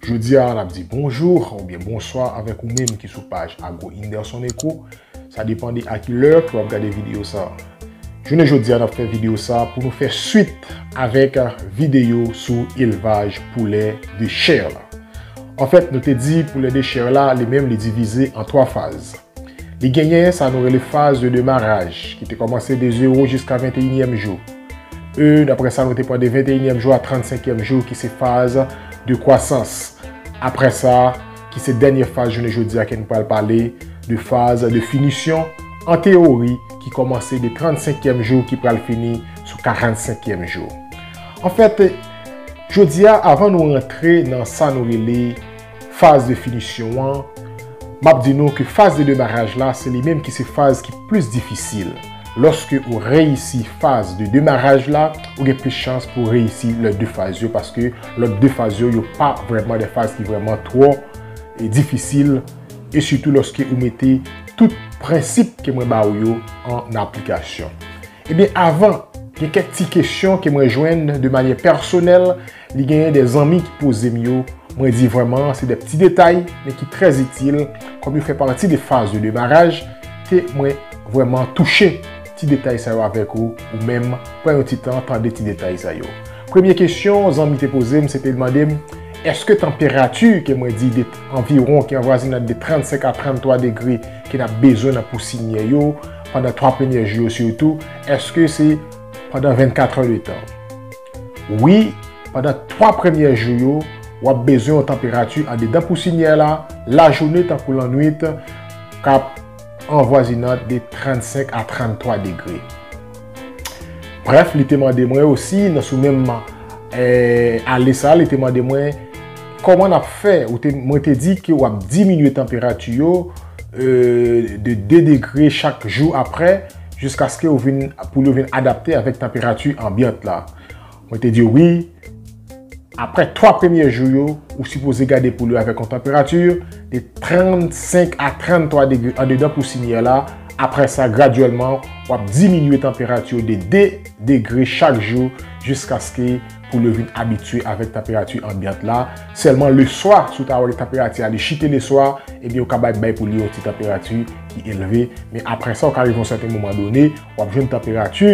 Jodi a, n ap di bonjou oubyen bonswa avèk ou menm ki sou paj Agro Inderson Eco. Sa depan de a ki lè ke w ap gade videyo sa a. Jounen jodi a, n ap fè videyo sa a pou nou fè swit avèk videyo sou elvaj poulè de chè la. Anfèt, nou te di poulè de chè la, li menm li divize an twa faz. Li genyen sa nou rele faz de demaraj ki te kòmanse de zewo jiska venteyinyèm jou. E aprè sa nou te pran de venteyinyèm jou a transenkyèm jou ki se faz de kwasans. Aprè sa, ki se dènyè faz jounen jodi a ke nou pral pale de faz de finisyon an teyori ki kòmanse de transenkyèm jou ki pral fini sou karantsenkyèm jou. Anfèt, jodi a avan nou rantre nan sa nou rele. Faz de finisyon an, M ap di nou ke faz de demaraj la se li menm ki se faz ki plis difisil. Lòske ou reyisi faz de demaraj la, ou gen plis chans pou reyisi lòt 2 faz yo paske lòt 2 faz yo, yo pa vrèman de faz ki vrèman twò difisil e sitou lòske ou mete tout prensip ke mwen ba ou yo an aplikasyon. Ebyen avan, gen kèk ti kesyon ke mwen jwenn de manyè pèsonèl Li genyen de zanmi ki poze m yo, mwen di vrèman se de pti detay men ki trè itil kòm yo fè pati de faz de demaraj ke mwen vrèman touche ti detay sa yo avèk ou, ou menm pran yon ti tan tande ti detay sa yo. Premye kesyon zanmi te poze m se te mande m èske tanperati ke mwen di de anviwon ki anvwazinad de 35 a 33 degre ke n ap bezwen nan pou sinyè yo pandan 3 premyè jou yo sitou èske se pandan 24 è de tan. Wi, pandan 3 premyè jou yo, w ap bezwen yon tanperati andedan kousinyè la lajounen tankou lannwit k ap anvwazinant de 35 a 33 degre. Brèf, li te mande mwen osi, nan sou menm ale sa a, li te mande mwen, Kòman n ap fè? Mwen te di ke w ap diminye tanperati yo de 2 degre chak jou apre. Jiskaske yo vin, poul yo vin adapte avèk tanperati anbyant la. Mwen te diw wi, aprè 3 premye jou yo, ou sipoze gade poul yo avèk yon tanperati de 35 a 33 degre andedan pousinyè la, aprè sa gradyèlman wap diminye tanperati yo de 2 degre chak jou jiskaske. pou yo vin abitye avèk tanperati anbyant la, sèlman leswa si w ta wè tanperati a li chite leswa, ebyen yo ka bay bèy pou li yon ti tanperati ki elve, men aprè sa ou ka rive yon sèten moman done, w ap jwenn tanperati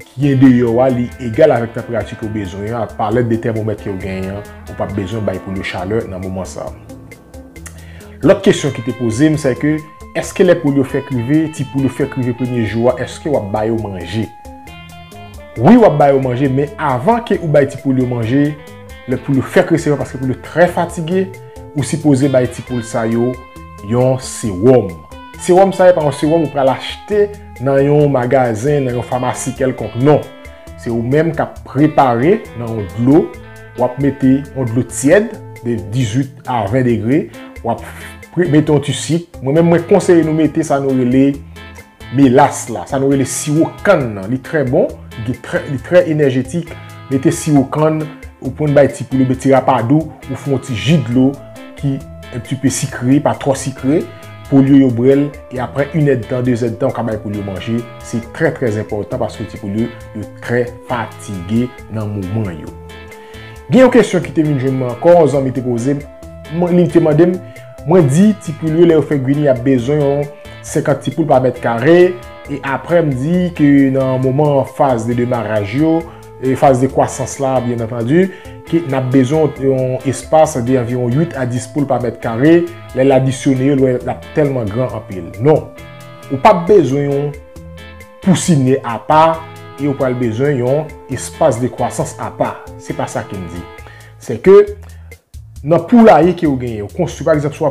ki andeyò a li egal avèk tanperati ke w bezwen an, ak palèt de tèmomèt ke w genyen an, ou p ap bezwen bay pou li chalè nan moman sa. Lòt kesyon ki te poze m se ke eske lè poul yo fèk rive, ti poul yo fèk rive premye jou a eske wap ba yo manje? Wi wap ba yo manje men avan ke ou bay ti poul yo manje, lè poul yo fèk resevwa paske poul yo trè fatige, ou sipoze bay ti poul sa yo yon sewòm. Sewòm sa e pa yon sewòm ou pral achte nan yon magazen, nan yon famasi kèlkonk non. Se ou menm kap prepare nan yon dlo. Wap mete yon dlo tyèd de 18 a 20 degre, wap mete yon ti sik. Mwen menm mwen konseye nou mete sa nou rele melas la, sa nou rele siwo kann nan. Li trè bon, li trè enèjetik. Mete siwo kann, ou konn bay ti poul ou byen ti rapadou, ou fè yon ti ji dlo ki un petit peu sikre, pa twò sikre. Poul yo yo bwè l e aprè inèdtan, dezèdtan ou ka bay poul yo manje. Se trè trè enpòtan paske ti poul yo yo trè fatige. nan moman yo. Gen yon kesyon ki te vin jwenn mwen ankò, yon zanmi te poze m, mwen li te mande m, mwen di ti poul yo lè yo fè guini y ap bezwen yon 50 ti poul pa mèt kare, e aprè m di ke nan moman faz de demaraj yo, faz de kwasans la byen antandi, ke n ap bezwen yon espas de anviwon 8 a 10 poul pa mèt kare, lè l adisyone yo l wè l ap tèlman gran anpil. Non, ou p ap bezwen yon. Pou signe apa e ou pral bezwen yon espas de kwasans apa. Se pa sa ke m di. Se ke nan poulaye ke ou genyen, ou konstwi, pa egzanp, si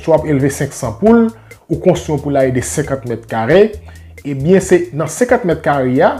w ap elve 500 poul, ou konstwi yon poulaye de 50 mèt kare, e byen se nan 50 mèt kare a,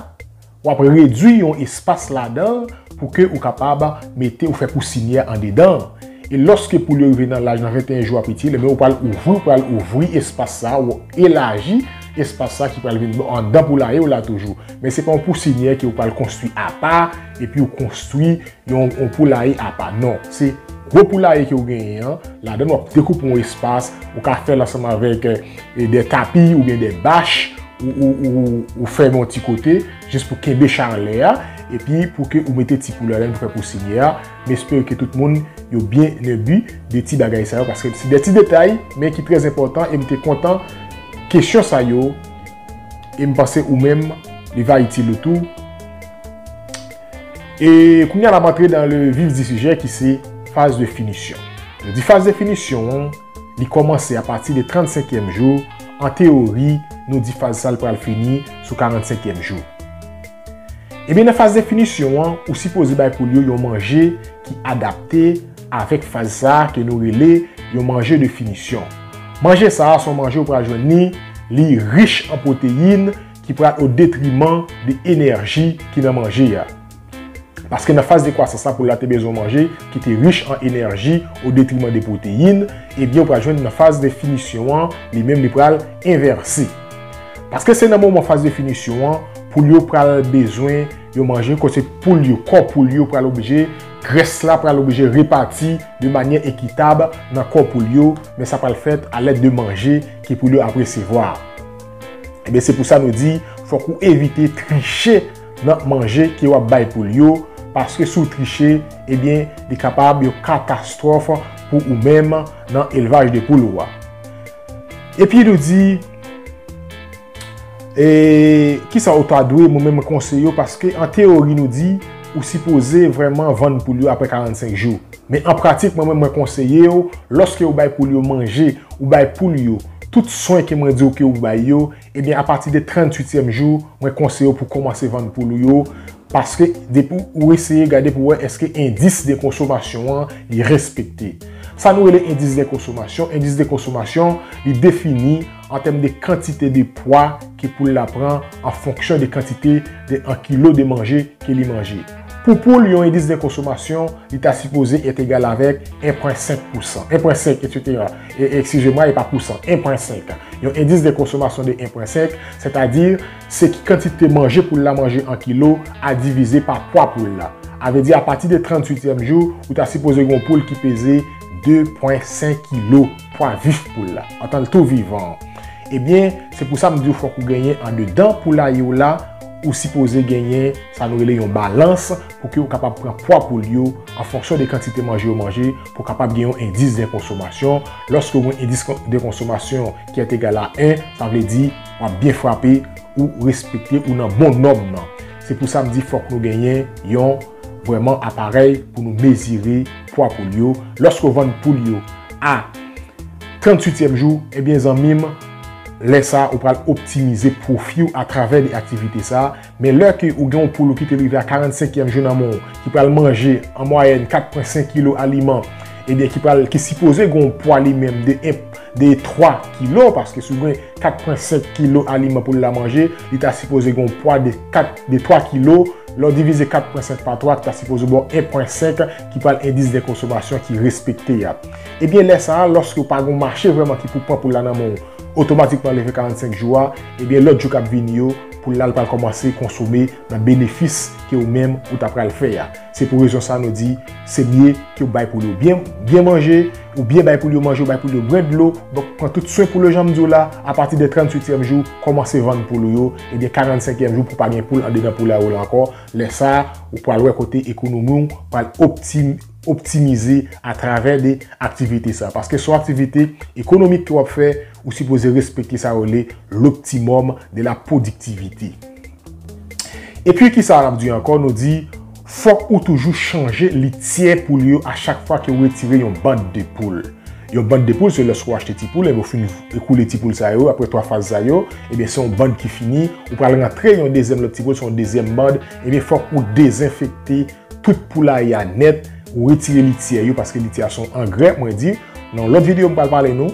w ap redwi yon espas ladan l pou ke ou kapab mete, ou fè pou signe a andedan l. E lòske poul yo rive nan laj nan 21 jou a pi ti, le men ou pral ouvri, ou pral ouvri espas sa a, ou elaji espas sa ki pral vin andan poulaye w la toujou. Men se pa yon pousinyè ke ou pral konstwi apa, epi ou konstwi yon poulaye apa. Non, se gwo poulaye ke ou genyen an, ladan wap dekoupe yon espas, ou ka fèl ansanm avèk de tapi ou byen de bach, ou fè yon ti kote, jis pou kenbe chalè a, epi pou ke ou mete ti poulaye pou fè pousinyè a. M espere ke tout moun yo byen enbi de ti bagay sa yo paske se de ti detay men ki trè enpòtan e m te kontan kesyon sa yo e m panse ou menm li va itil ou tou. E kounye a n ap antre dan le vif di sijè ki se faz de finisyon. Lè m di faz de finisyon. Li kòmanse apati de 35 èm jou, an teyori nou di faz sa l pral fini sou 45 èm jou. Ebyen nan faz definisyon an ou sipoze bay poul yo yon manje ki adapte avèk faz sa ke nou rele yon manje de finisyon. Manje sa a son manje ou pral jwenn li, li rich an pwoteyin ki pral o detriman de enèji ki nan manje a. Paske nan faz de kwasans la poul la te bezwen manje ki te rich an enèji o detriman de pwoteyin, ebyen ou pral jwenn nan faz de finisyon an li menm li pral envèse. Paske se nan moman faz de finisyon an poul yo pral bezwen yo manje kote poul yo, kò poul yo pral oblije, grès la pral oblije repati de manyè ekitab nan kò poul yo, men sa pral fèt a lèd de manje ke poul yo ap resevwa. Ebyen se pou sa nou di fòk ou evite triche. nan manje ke wap bay poul yo paske si w triche ebyen li kapab yon katastwòf pou ou menm nan elvaj de poul ou a epi nou di e kisa ou ta dwe mwen menm mwen konseye w paske an teyori nou di ou sipoze vrèman vann poul yo aprè 45 jou men an pratik mwen menm mwen konseye w lòske ou bay poul yo manje ou bay poul yo tout swen ke mwen di w ke ou bay yo Ebyen a pati de 38 tièm jou mwen konseye w pou komanse vann poul ou yo paske depi ou eseye gade pou wè eske endis de konsomasyon an li respekte. Sa nou rele endis de konsomasyon, endis de konsomasyon li defini an tèm de kantite de pwa ke poul la pran an fonksyon de kantite de an kilo de manje ke li manje. Pou poul yon endis de konsomasyon, li ta sipoze et egal avèk 1.5 pousan, 1.5 etc. E, ekskize mwa, e pa pousan, 1.5. Yon endis de konsomasyon de 1.5, sètadi, se ki kantite manje poul la manje an kilo a divize pa pwa poul la. A vè di a pati de 38 tièm jou, ou ta sipoze gen yon poul ki peze 2.5 kilo. pwa vif poul la, antan l tou vivan an. Ebyen, se pou sa m di w fòk ou genyen andedan poulaye w la, ou sipoze genyen sa nou rele yon balans pou ke ou kapab pran pwa poul yo an fonksyon de kantite manje yo manje pou kapab gen yon endis de konsomasyon. Lòske ou gen yon endis de konsomasyon ki est egal a 1, sa vle di w ap byen frape, ou respekte, ou nan bon nòm nan. Se pou sa m di fòk nou genyen yon. vrèman aparèy pou nou mezire pwa poul yo lòske w vann poul yo a 38 tièm jou ebyen zanmi m lè sa ou pral optimize pwofi w atravè de aktivite sa men lè ke ou gen yon poul ou kite l rive a 45 tièm jou nan men w ki pral manje an mwayèn 4.5 kilo aliman ebyen ki pral ki sipoze gen yon pwa li menm de 1 de 3 kilo paske si w gen 4.5 kilo aliman poul la manje li ta sipoze gen yon pwa de 4 de 3 kilo. Lè w divize 4 pwen 5 pa 3, ta sipoze ba w 1 pwen 5 ki pral endis de konsomasyon ki respekte a. Ebyen lè sa a, lòske w pa gen yon mache vrèman ki pou pran pou l la nan men w, otomatikman leve 45 jou a, ebyen lòt jou k ap vini yo, pou l la l pral kòmanse konsome nan benefis ke ou menm ou ta pral fè a. Se pou rezon sa a nou di, se mye ke w bay poul yo byen, byen manje, ou byen bay poul yo manje, ou bay poul yo bwè dlo, donk pran tout swen poul yo jan m di w la, apati de 38 tièm jou, kòmanse vann poul ou yo, e gen 45 èm jou pou pa gen poul andedan poulay ou lan ankò, lè sa a ou pral wè kote ekonomi w pral optimize a travè de aktivite sa a. Paske son aktivite ekonomik ke w ap fè, ou sipoze respekte sa yo rele loptimòm de la pwodiktivite. E pi ki sa a n ap di ankò, nou di. Fòk ou toujou chanje lityè poul yo a chak fwa ke ou retire yon band de poul. Yon band de poul se lòske ou achte ti poul ebyen ou fin ekoule ti poul sa yo aprè 3 faz sa yo ebyen se yon band ki fini ou pral rantre yon dezyèm lòt ti poul se yon dezyèm band ebyen fòk ou dezenfekte tout poulaye a nèt ou retire lityè yo paske lityè a se yon angrè mwen di nan yon lòt videyo m pral pale nou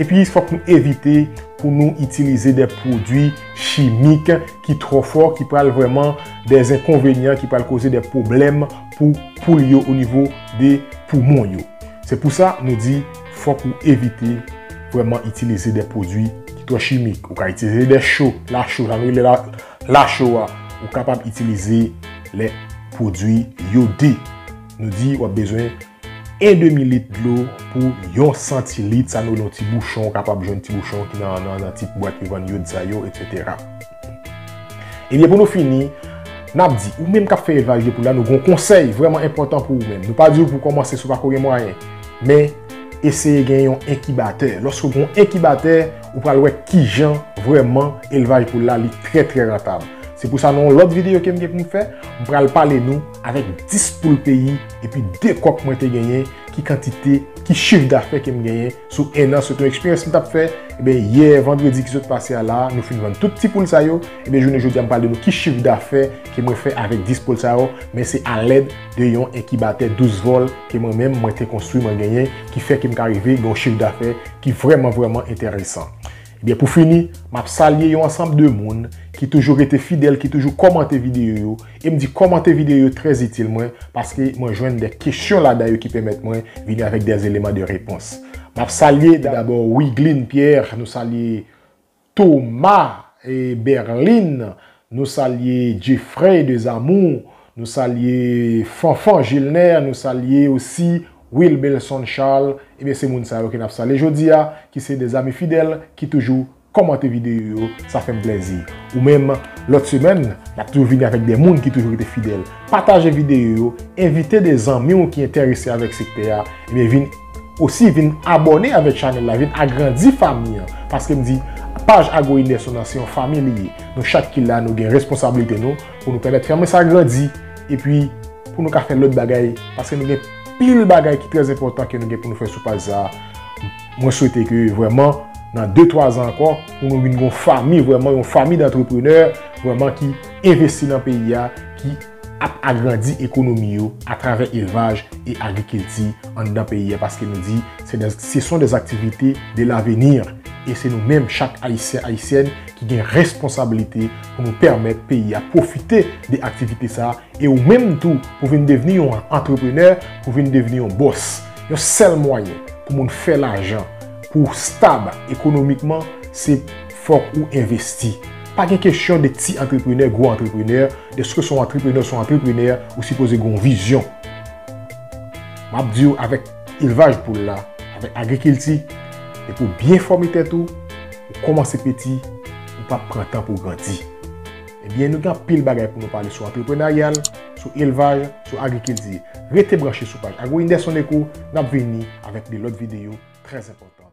Epi fòk nou evite pou nou itilize de pwodwi chimik ki twò fò, ki pral vreman de enkonvenyan, ki pral koze de pwoblèm pou poul yo o nivo de poumon yo. Se pou sa nou di fòk ou evite vreman itilize de pwodwi ki twò chimik. Ou ka itilize de cho, la cho, sa nou rele la cho a. Ou kapab itilize le pwodwi yode. Nou di wap bezwen. 1 demi lit dlo pou yon santilit, sa nou rele yon ti bouchon, ou kapab jwenn ti bouchon ki nan ti bwat yo vann yod sa yo, etsetera. Ebyen pou nou fini, n ap di, ou menm k ap fè elvaj de poul la, nou gen yon konsèy vrèman enpòtan pou ou menm. Nou pa di w pou w kòmanse si w pa ko gen mwayen, men eseye gen yon enkibatè. Lòske w gen yon enkibatè, ou pral wè ki jan vrèman elvaj poul la li trè trè rantab. Se pou sa nan yon lòt videyo ke m gen pou m fè, m pral pale nou avèk 10 poul peyi. Epi de kòk mwen te genyen, ki kantite, ki chif dafè ke m genyen sou 1 an, se te yon eksperyans m t ap fè. Enben, yè vandredi ki sot pase a la a, nou fin vann tout ti poul sa yo. Enben, jounen jodi a m pral di nou ki chif dafè ke mwen fè avèk 10 poul sa yo, men se alèd de yon enkibatè 12 vòl ke mwen menm mwen te konstwi, mwen genyen, ki fè ke m ka rive gen yon chif dafè ki vrèman, vrèman enteresan. Ebyen pou fini, map salye yon ansanb de moun ki toujou rete fidèl, ki toujou kòmante videyo yo, em di kòmante videyo yo trè zitil mwen paske mwen jwenn de kesyon ladan yo ki pèmèt mwen vini avèk de eleman de repons. Map salye dabò Wigline Pierre, nou salye Thomas Berline, Nou salye Jeffrey de Zamou, nou salye Fanfan Gilner, nou salye osi Wilbelson Charles, ebyen se moun sa yo ke nap salye jodi a, ki se de zami fidèl ki toujou kòmante videyo yo, sa fè m plèzi. Ou menm, lòt semèn, nap toujou vini avèk de moun ki toujou rete fidèl. Pataje videyo yo, envite de zanmi w ki entèrese avèk sektè a, ebyen vin. Osi vin abòne avèk chanèl la, vin agrandi fanmi an. Paske m di, paj Ago Inerson an se yon fanmi li ye. Nou chak ki la nou gen responsablite nou pou nou pèmèt fanmi sa grandi. Epi pou nou ka fè lòt bagay. Paske nou gen pil bagay ki trè enpòtan ke nou gen pou nou fè sou paj sa. Mwen swete ke vrèman nan 2, 3 zan ankò pou nou vin gon fanmi vrèman, yon fanmi dantreprenè vrèman ki envesti nan peyi a. ap agrandi ekonomi yo atravè elvaj e agrikilti anndan peyi a paske nou di se son des activités de l'avenir e se nou menm chak Ayisyen, Ayisyèn ki gen responsablite pou nou pèmèt peyi a pwofite de aktivite sa e ou menm tou pou vin devni yon antreprenè, pou vin devni yon bòs. Yon sèl mwayen pou moun fè lajan, pou w stab ekonomikman se fòk ou envesti. Pa gen kesyon de ti antreprenè, gwo antreprenè, deske son antreprenè, son antreprenè, ou sipoze gen yon vizyon. M ap di ou avèk elvaj poul la, avèk agrikilti, depi ou byen fòme tèt ou, ou kòmanse peti, ou pa pran tan pou ou grandi. Ebyen nou gen anpil bagay pou nou pale sou antreprenarial, sou elvaj, sou agrikilti. Rete branche sou paj Agro Indes Soneco, n ap vini avèk de lòt videyo trè enpòtan.